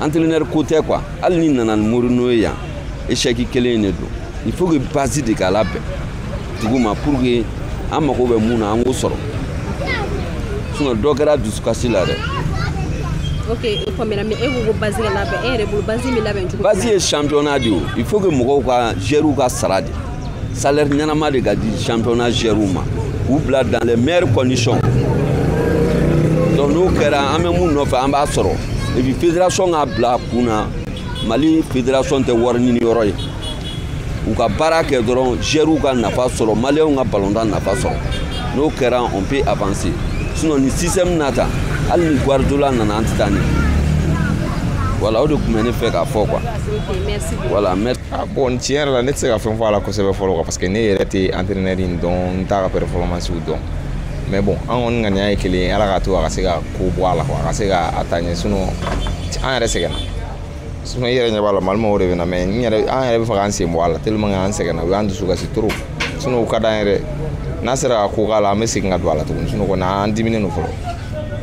entraîneur ko tɛ quoi hali n'i nana ni mourinho ye yan échec kelen de don il faut que base de ka labɛn dugu ma pour que an mago bɛ mun na an k'o sɔrɔ sinon dɔ kɛra dusukasi la dɛ ok o faamuyara mais e ko ko base ka labɛn e yɛrɛ bolo base bɛ labɛn cogo base ye championnat de ye il faut que mɔgɔw ka joueurw ka sara di salaire ɲɛnama de ka di championnat joueurw ma k'u bila dans les meilleures conditions donc n'o kɛra an bɛ mun nɔfɛ an b'a sɔrɔ et puis fédération k'a bila a kun na mali fédération tɛ wari ɲini yɔrɔ ye u ka baara kɛ dɔrɔn joueurw ka nafa sɔrɔ maliyɛnw ka balontan nafa sɔrɔ n'o kɛra on peut avancer sinon ni système na ta hali ni guardiola nana an tɛ taa ɲɛ voilà o de tun bɛ ne fɛ k'a fɔ quoi voilà merci Ah, bon tiɲɛ yɛrɛ la ne tɛ se ka fɛn fɔ a la kosɛbɛ fɔlɔ quoi parce que ne yɛrɛ tɛ entraîneur in dɔn n t'a ka performance dɔn mais bon an kɔni ŋaniya ye kelen ye ala k'a to a ka se ka ko bɔ a la quoi a ka se ka taa ɲɛ sinon an yɛrɛ sɛgɛnna sinon i yɛrɛ ɲɛ b'a la mali mɔgɔw de bɛ na mais n yɛrɛ an yɛrɛ b'a fɛ k'an sen bɔ a la tellement que an sɛgɛnna u y'an dusu kasi trop sinon u ka d'an yɛrɛ n'a sera ka ko k'a la an bɛ segin ka don a la tuguni sinon kɔni an diminnen don fɔlɔ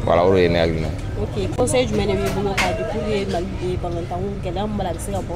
voilà o de ye ne hakilina ye. ok conseil jumɛn de b'i bolo k'a di pour que mali balontanko gɛlɛya min b'a la a bɛ se ka bɔ.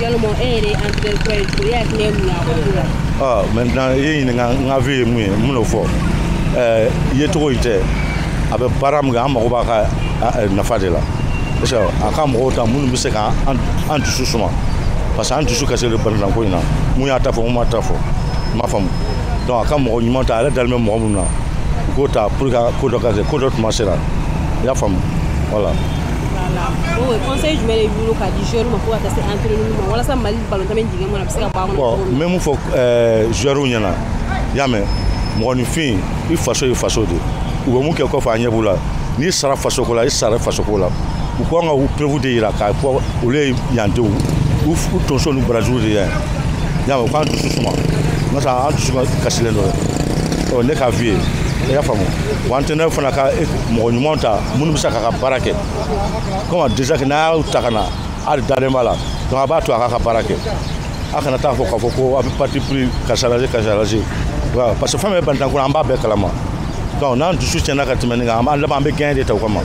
Yalima e yɛrɛ ye entraineur kura ye cogo di? E hakilina ye mun ye a ka ko la? Ɔ maintenant i ye ɲininka n ka avis ye mun ye n bɛn'o fɔ ɛɛ yecogo in tɛ a bɛ baara min kɛ an mago b'a ka nafa de la est ce que a ka mɔgɔw ta minnu bɛ se ka an dusu suma parce que an dusu kasilen don balontanko in na min y'a ta fɔ min m'a ta fɔ n m'a faamu donc a ka mɔgɔ ɲuman ta a yɛrɛ dalen bɛ mɔgɔ minnu na u k'o ta pour que ko dɔ ka se ko dɔ tuma sera i y'a faamu voilà. o conseil jumɛn de b'i bolo k'a di joueur ma fo ka taa se entraîneur ma walasa mali balontan bɛ dingɛ min na a bɛ se ka bɔ a kɔnɔ bon n bɛ mun fɔ joueur ɲɛna i y'a mɛn mɔgɔninfin i faso y'i faso de u bɛ min kɛ kɔfɛ an ɲɛ b'u la n'i sara faso ko la i sara faso ko la u ka kan ka u preuve de jira k'a fɔ olu ye yan denw u tonso ni barajuru de ye y'a mɛn u k'an dusu suma n ka sa an dusu kasilen don o ye ne ka avis ye i y'a faamu wa entraîneur fana ka mɔgɔ ɲuman ta minnu bɛ se k'a ka baara kɛ kɔmi déjà que n'a y'a ta ka na ale dalen b'a la donc a b'a to a k'a ka baara kɛ a kana taa fɔ k'a fɔ ko a bɛ parti pris karisa lajɛ karisa lajɛ voilà parce que fɛn min bɛ balontan kɔnɔ an b'a bɛɛ kalama donc n'an dusu tiɲɛna ka tɛmɛ nin kan an b'a laban an bɛ gɛɲɛ de ta u kama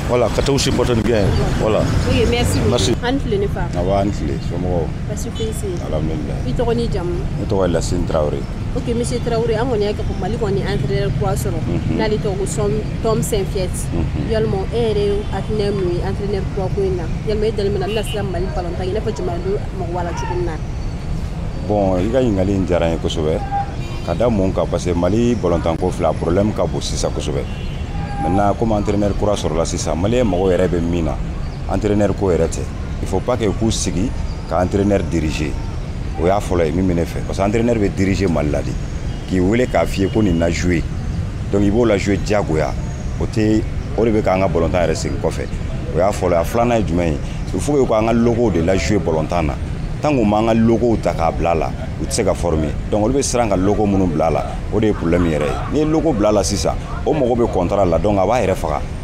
voilà ka taa u supporter ni gɛɲɛ voilà. ok merci beaucoup merci aw ni tile ne fa. awa aw ni tile somɔgɔw. basi foyi tɛ. alhamdulilayi. i tɔgɔ n'i jamu. ne tɔgɔ ye lasine tarawele. Ok monsieur tarawele an kɔni ka mali kɔni an ye entraîneur kura sɔrɔ mhm. n'ale tɔgɔ ko Tom Saintfiet mhm. yalima e yɛrɛ hakilina ye mun ye entraîneur kura ko in na yalima e dalen min na bɛna sira mali balontan i n'a fɔ jamanadenw mago b'a la cogo min na bɔn i ka ɲininkali in diyara n ye kosɛbɛ ka da mun kan parce que mali balontanko fila problème ka bon sisan kosɛbɛ maintenant comme entraîneur kura sɔrɔla sisan maliyɛn mago yɛrɛ bɛ min na entraîneur ko yɛrɛ tɛ il faut pas que k'u sigi ka entraîneur diriger o y'a fɔlɔ ye min bɛ ne fɛ parce que entraîneur bɛ diriger mali la de k'i wele k'a f'i ye ko nin na jouer donc i b'o la jouer diyagoya o de bɛ k'an ka balontan yɛrɛ segin kɔfɛ o y'a fɔlɔ ye a filanan ye jumɛn ye il faut que k'an ka locaux de la jouer balontan na tant qu'an m'an ka locaux ta k'a bila a la u tɛ se ka former donc olu bɛ siran ka locaux minnu bila a la o de ye problème yɛrɛ ye n'i ye locaux bila a la sisan o mago bɛ contrat la donc a b'a yɛrɛ faga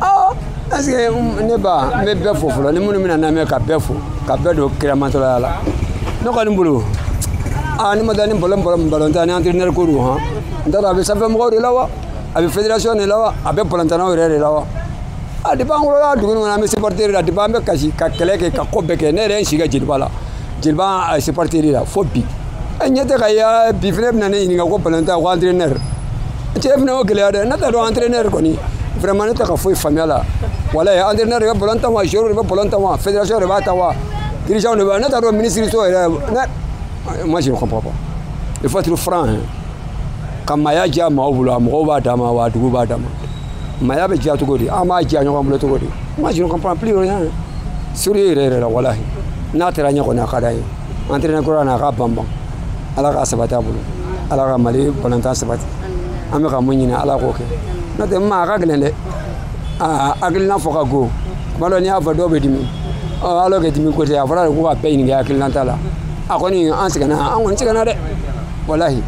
ɔ est-ce que ne ba n bɛ bɛɛ fo fɔlɔ ni minnu b'an lamɛn ka bɛɛ fo ka bɛɛ don kiramatɔlaya la ne kɔni bolo aa ne ma taa ni balon balon balontan ni entraîneur ko don hɔn n t'a dɔn a bɛ sanfɛ mɔgɔw de la wa a bɛ fédération de la wa a bɛ balontannaw yɛrɛ de la wa a depuis an wolola dugu in kɔnɔ an bɛ supporter de la depuis an bɛ kasi ka kɛlɛ kɛ ka ko bɛɛ kɛ ne yɛrɛ ye n si kɛ jeliba la jeliba a supporter la fo bi an ɲɛ tɛ ka ye bi fana bɛna ne ɲininka ko balontan ko entraîneur cɛ fana y'o gɛlɛya dɛ ne t'a dɔn entraîneur kɔni vraiment ne tɛ ka foyi faamu a la wala entraîneur de bɛ balon tan wa joueur de bɛ balon tan wa fédération de b'a tan wa dirigeant de b'a ne t'a dɔn ministre so yɛrɛ ne moi je ne comprends pas il faut être franc hein ka maaya diya maaw bolo a mɔgɔw b'a dama wa a dugu b'a dama maaya bɛ diya cogo di an b'a diya ɲɔgɔn bolo cogo di moi je ne comprends plus rien sérieux yɛrɛ yɛrɛ la walahi n'a taara ɲɛ kɔni a ka d'an ye entraîneur kura na a ka banban ala k'a sabati a bolo ala ka mali balontan sabati an bɛ ka mun ɲini ala k'o kɛ n'o tɛ ma a ka gɛlɛn dɛ hakilina fɔ ka go kuma dɔ n'i y'a fɔ dɔw bɛ dimi alors que dimi ko tɛ a fɔra de ko ka bɛɛ ɲininka hakilinata la a kɔni an sɛgɛnna an kɔni sɛgɛnna dɛ walahi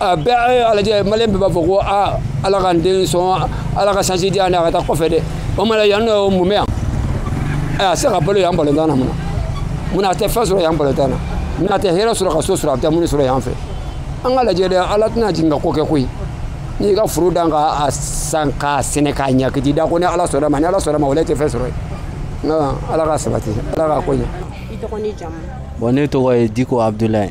a bɛɛ a lajɛ maliyɛn bɛɛ b'a fɔ ko aa ala ka n den sɔn ala ka chance di yan dɛ a ka taa kɔfɛ dɛ o ma la yan nɔ o mun bɛ yan a tɛ se ka balo yan balontan na mun na mun na a tɛ fɛn sɔrɔ yan balontan na mun na a tɛ hɛrɛ sɔrɔ ka so sɔrɔ a bɛ taa mun sɔrɔ yan fɛ an k'a lajɛ dɛ ala tɛna jigin ka ko kɛ koyi n'i ka foro dan ka san k'a sɛnɛ k'a ɲɛ k'i da ko ni ala sɔnna ma ni ala sɔnna ma o la i tɛ fɛn sɔrɔ yen ala ka sabati ala ka ko ɲɛ bɔn ne tɔgɔ ye diko abudulayi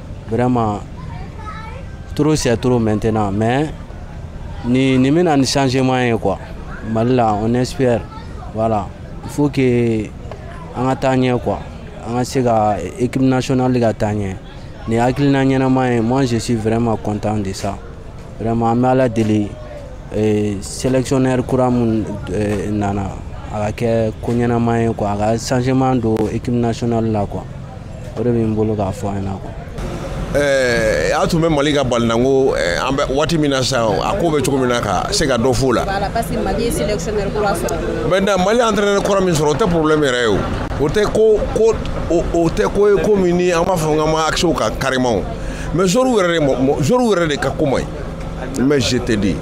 vraiment trop c'est trop maintenant mais ni nin bɛna ni changement ye quoi mali la on espère voilà il faut que an ka taa ɲɛ quoi an ka se ka équipe nationale ka taa ɲɛ ni hakilina ɲɛnama ye moi je suis vraiment content de ça vraiment an bɛ ala deli eh, sélectionneur kura mun eh, nana a ka kɛ ko ɲɛnama ye quoi a ka changement don équipe nationale la quoi o de bɛ n bolo k'a fɔ an ɲɛna quoi Eh, a tun bɛ mali ka ballontanko eh, an bɛ waati min na sisan a ko bɛ cogo min na ka se ka dɔ f'o la maintenant mali entraîneur kura min sɔrɔ o tɛ problème yɛrɛ ye o o tɛ ko ko o tɛ ko ye ko min ni an b'a fɔ n ka ma accès o kan carrément mais joueurs yɛrɛ de joueurs yɛrɛ de ka ko man ɲi mais je te dis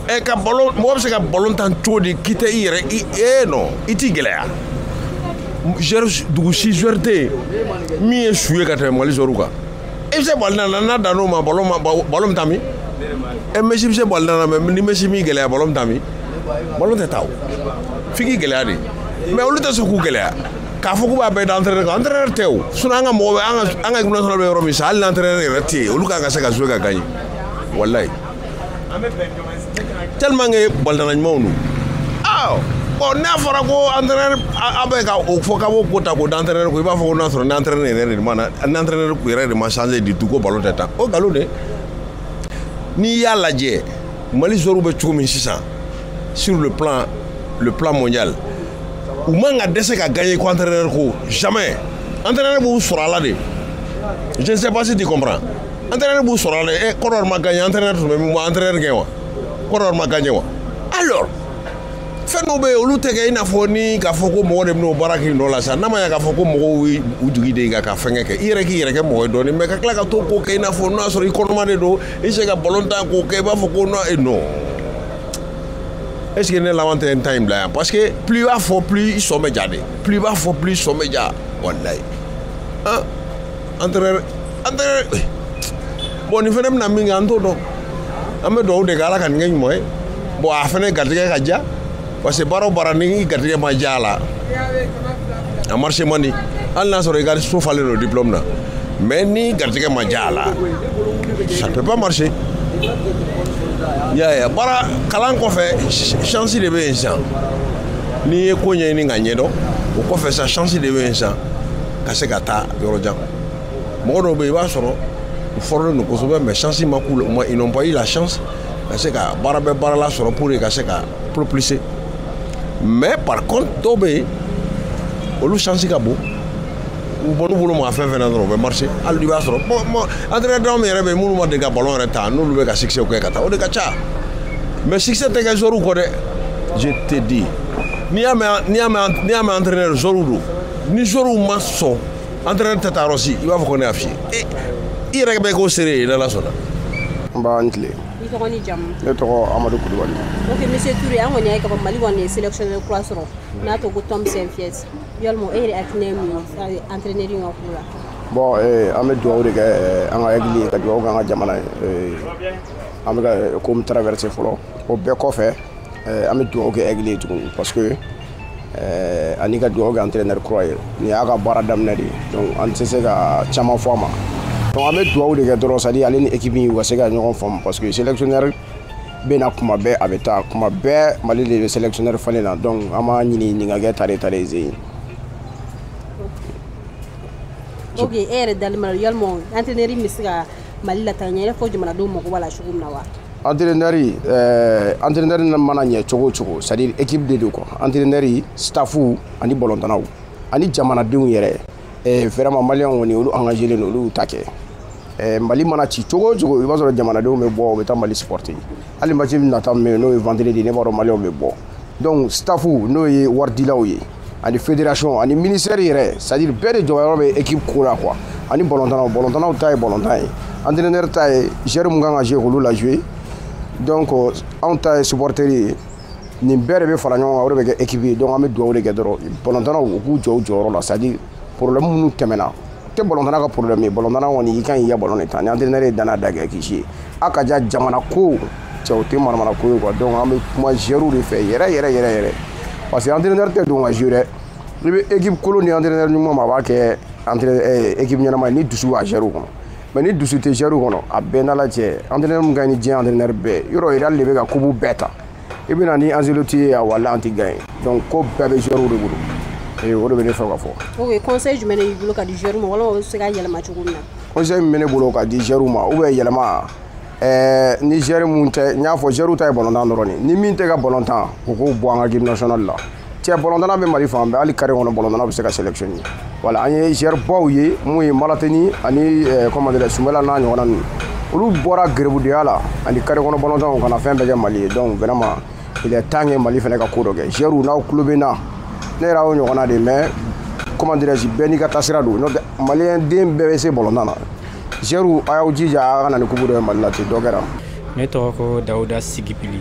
ɛ eh, ka ballon mɔgɔ bɛ se ka ballon tan cogo di k'i tɛ i yɛrɛ i ee non i t'i gɛlɛya dugu si joueur tɛ yen min ye su ye ka tɛmɛ mali joueurs kan i bɛ se ballontan na n'a danna o ma ballon bɛ taa min ɛ Messi bɛ se ballontan na mais ni Messi m'i gɛlɛya ballon bɛ taa min ballon tɛ taa o f'i k'i gɛlɛya de mais olu tɛ sɔn k'u gɛlɛya k'a fɔ k'u b'a bɛɛ da entraîneur kan entraîneur tɛ o sinon an ka mɔgɔ bɛ an ka an ka équipe nationale bɛ yɔrɔ min sa hali n'entraîneur yɛrɛ tɛ yen olu kan ka se ka jouer ka gagner walayi tellement que ballontanna ɲumanw don ah bon n'a fɔra ko entraîneur a bɛ ka o fɔ k'a b'o ko ta k'o da entraîneur ko i b'a fɔ ko n'a sɔrɔ ni entraîneur yɛrɛ de ma na ni entraîneur yɛrɛ de ma changer du tout ko ballon tɛ tan o nkalon de n'i y'a lajɛ mali joueurs bɛ cogo min sisan sur le plan mondial u man ka dɛsɛ ka gagner ko entraîneur ko jamais entraîneur b'u sɔrɔ a la de je ne sais pas si tu comprends entraîneur b'u sɔrɔ a la ɛ Côte d'Ivoire ma gagné entraîneur tun bɛ min bon entraîneur gɛn wa Côte d'Ivoire ma gagné wa alors fɛn dɔw bɛ yen olu tɛ kɛ i n'a fɔ ni k'a fɔ ko mɔgɔ de bɛna o baara k'i nɔ la sa n'a ma ɲɛ k'a fɔ ko mɔgɔw ye u jigi de ka ka fɛnkɛ kɛ i yɛrɛ k'i yɛrɛ kɛ mɔgɔ ye dɔɔni mais ka tila ka to k'o kɛ i n'a fɔ n'o y'a sɔrɔ i kɔnɔma de don i se ka ballon tan k'o kɛ i b'a fɔ ko non e non est ce que ne laban tɛ n ta in bila yan parce que plus i b'a fɔ plus i sɔn bɛ ja de plus i b'a fɔ plus i sɔn bɛ ja walayi. entraîneur entraîneur bon nin fana bɛna min kɛ an t'o dɔn an bɛ dugawu de kɛ ala ka nin kɛ ɲuman ye bon a fana garijɛgɛ ka diya parce que baara o baara n'i garijɛgɛ ma diya a la a marché man di hali n'a sɔrɔ i ka so falen don diplôme na mais n'i garijɛgɛ ma diya a la ça ne peut pas marcher yaya baara kalan kɔfɛ chance de bɛ yen sisan n'i ye ko ɲɛɲini ka ɲɛdɔn o kɔfɛ sa chance de bɛ yen sisan ka se ka taa yɔrɔ jan mɔgɔ dɔw bɛ yen i b'a sɔrɔ u formélen don kosɛbɛ mais chance ma k'u la ils n'ont pas eu la chance ka se ka baara bɛɛ baarala sɔrɔ pour ka se ka propulser mais par contre dɔw bɛ yen olu chance ka bon u bon n'u bolo maga fɛn fɛn na dɔrɔn u bɛ marché hali n'i b'a sɔrɔ entraîneur min yɛrɛ bɛ yen minnu ma deli ka ballon yɛrɛ tan olu bɛ ka succès kɛ ka taa o de ka ca mais succès tɛ kɛ joueur kɔ dɛ je te dis n'i y'a mɛn n'i y'a mɛn n'i y'a mɛn entraîneur joueur don ni joueurs ma sɔn entraîneur tɛ taa yɔrɔ si i b'a fɔ ko ne y'a f'i ye i yɛrɛ bɛ k'o seere ye n'ala sɔnna nba i ni tile i tɔgɔ ni jamu ne tɔgɔ amadu kulubali ok monsieur toure an kɔni y'a ye k'a fɔ mali kɔni ye sélectionneur kura sɔrɔ n'a tɔgɔ ko tom saintfiet yalima e yɛrɛ hakilina ye mun ye entraîneur ka ko la bon eh, an bɛ dugawu de kɛ eh, an ka aigles ye ka dugawu kɛ an ka jamana ye eh, an bɛ ka ko min traverser fɔlɔ o bɛɛ kɔfɛ an bɛ dugawu kɛ aigles ye tuguni parce que eh, ani ka dugawu kɛ entraîneur kura ye nin y'a ka baara daminɛ de ye donc an tɛ se ka caman fɔ a ma donc an bɛ dugawu de kɛ dɔrɔn c'est à dire ale ni équipe in u ka se ka ɲɔgɔn faamu parce que sélectionneur bɛ na kuma bɛɛ a bɛ taa kuma bɛɛ mali de bɛ sélectionneur falen na donc an b'a ɲini nin ka kɛ tare tare ze ye ok e yɛrɛ dali ma yalima entraîneur bɛ se ka mali lataa ɲɛ i n'a fɔ jamanadenw mago b'a la cogo min na wa entraîneur euh, entraîneur mana ɲɛ cogo o cogo c'est à dire équipe de don quoi entraîneur staffu ani bɔlɔntanaw ani jamanadenw yɛrɛ euh, vraiment maliyɛnw kɔni olu engagelen don olu y'u ta kɛ Eh, mali mana ci cogo o cogo i b'a sɔrɔ jamanadenw bɛ bɔ u bɛ taa mali supporter hali match nata min bɛ yen n'o ye vendredi ne b'a dɔn maliyɛnw bɛ bɔ donc staffu n'o ye waridilaw ye ani fédération ani ministère yɛrɛ c'est à dire bɛɛ de jɔyɔrɔ bɛ équipe ko la quoi ani bɔlɔntanaw bɔlɔntanaw ta ye bɔlɔntan ye entraîneur ta ye joueur mun kan ka jouer k'olu la jouer donc euh, anw ta ye supporter ye nin bɛɛ de bɛ fara ɲɔgɔn kan o de bɛ kɛ équipe ye donc an bɛ dugawu de kɛ dɔrɔn bɔlɔntanaw u k'u jɔ u jɔyɔrɔ la c'est à dire problème minnu tɛmɛna tɛ bɔlɔntana ka problème ye bɔlɔntana kɔni i kan k'i ka bɔlɔn de tan ni entraîneur ye danna da kɛ kisi ye a ka ja jamana ko cɛ o tɛ manamana ko ye quoi donc an bɛ kuma joueur de fɛ yɛrɛ yɛrɛ yɛrɛ yɛrɛ parce que entraîneur tɛ don ka jouer dɛ n'i bɛ équipe kolon di entraîneur ɲuman ma a b'a kɛ entraîneur eh, équipe ɲɛnama ye ni dusu b'a joueur kɔnɔ mais ni dusu tɛ joueur kɔnɔ a bɛɛ n'ala cɛ entraîneur min ka ɲi ni diɲɛ entraîneur bɛɛ yɔrɔ real de bɛ ka coupe bɛɛ ta i bɛ na ni ancelotti ye a wala an tɛ gagner donc ko bɛɛ bɛ joueurw de bolo ee o de bɛ ne fɛ ka fɔ. ok conseil jumɛn de b'i bolo ka di joueurw ma walima o bɛ se ka yɛlɛma cogo min na. conseil min bɛ ne bolo ka di joueurw ma ou bien yɛlɛma ɛɛ ni joueur mun tɛ n y'a fɔ joueurw ta ye balontan dɔrɔn de ye ni min tɛ ka balontan u k'o bɔ an ka équipe nationale la. cɛ bɔlɔntana bɛ mali fan bɛɛ hali carré kɔnɔ bɔlɔntana bɛ se ka sélectionner voilà an ye joueur baw ye mun ye malatini ani comment dire sumɛla n'a ɲɔgɔnna ninnu olu bɔra garibudenya la ani carré kɔnɔ bɔlɔntanaw ka na fɛn bɛɛ kɛ mali ye donc vraiment il est temps que mali fana ka ko dɔ kɛ joueurw n'aw tulo bɛ n na ne yɛrɛ y'o ɲɔgɔnna de mais comment dirais-je bɛɛ n'i ka taasira don n'o tɛ maliyɛn den bɛɛ bɛ se bɔlɔntan na joueurw a y'aw jija a ka na ni coupe dɔ ye mali la ten dɔ kɛra ne tɔgɔ ko dawuda sigipili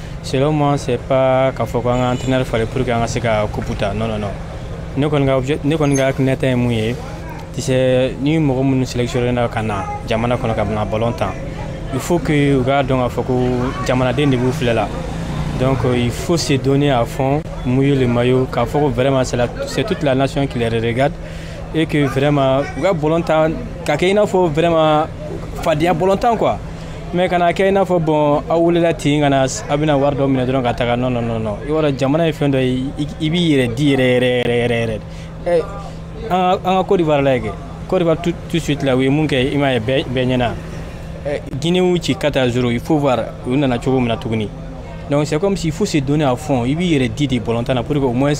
Selon moi, c'est pas k'a fɔ ko an ka entraîneur falen pour que an ka se ka coupe ta non non non ne kɔni ka ne kɔni ka hakilina ta ye mun ye tu sais ni mɔgɔ minnu sélectionné na ka na jamana kɔnɔ ka na ballon tan il faut que u k'a dɔn k'a fɔ ko jamanaden de b'u filɛ la donc euh, il faut se donner à fond mouiller le maillot k'a fɔ ko vraiment c'est toute la nation qui les regarde et que vraiment u ka ballon tan ka kɛ i n'a fɔ vraiment fadenya ballon tan quoi mais kana kɛ i n'a fɔ bon a wulila ten ka na a bɛna wari dɔ minɛ dɔrɔn ka taga non non non i b'a dɔn jamana ye fɛn dɔ ye i b'i yɛrɛ di yɛrɛ yɛrɛ yɛrɛ yɛrɛ yɛrɛ eh, an ka Côte d'Ivoire lajɛ Côte d'Ivoire tout de suite la u ye mun kɛ i m'a ye bɛɛ ɲɛna eh, Guinée y'u ci quatre à zéro il faut voir u nana cogo min na tuguni donc c'est comme s'il faut se donner à fond i b'i yɛrɛ di de ballon tan na pour que au moins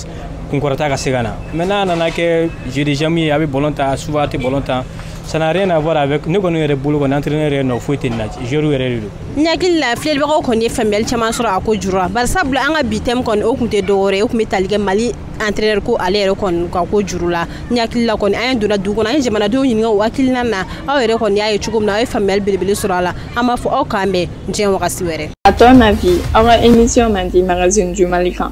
kunkɔrɔta ka se ka na mais n'a nana kɛ jeu des amis ye a bɛ ballon tan souvent a tɛ ballon tan Ça n'a rien à voir avec ne kɔni yɛrɛ bolo kɔni entraîneur yɛrɛ nɔ foyi tɛ nin na joueur yɛrɛ de don. N hakili la filɛlibagaw kɔni ye faamuyali caman sɔrɔ a ko juru la bari sabula an ka bi thème kɔni o tun tɛ dɔ wɛrɛ ye o tun bɛ tali kɛ Mali entraîneur ko ale yɛrɛ kɔni ka ko juru la n hakili la kɔni an ye donna dugu kɔnɔ an ye jamanadenw ɲininka o hakilina na aw yɛrɛ kɔni y'a ye cogo min na aw ye faamuyali belebele sɔrɔ a la an b'a fɔ aw k'an bɛn diɲɛ wagati wɛrɛ. À ton avis, aw ka émission mandi magazine du Mali kan?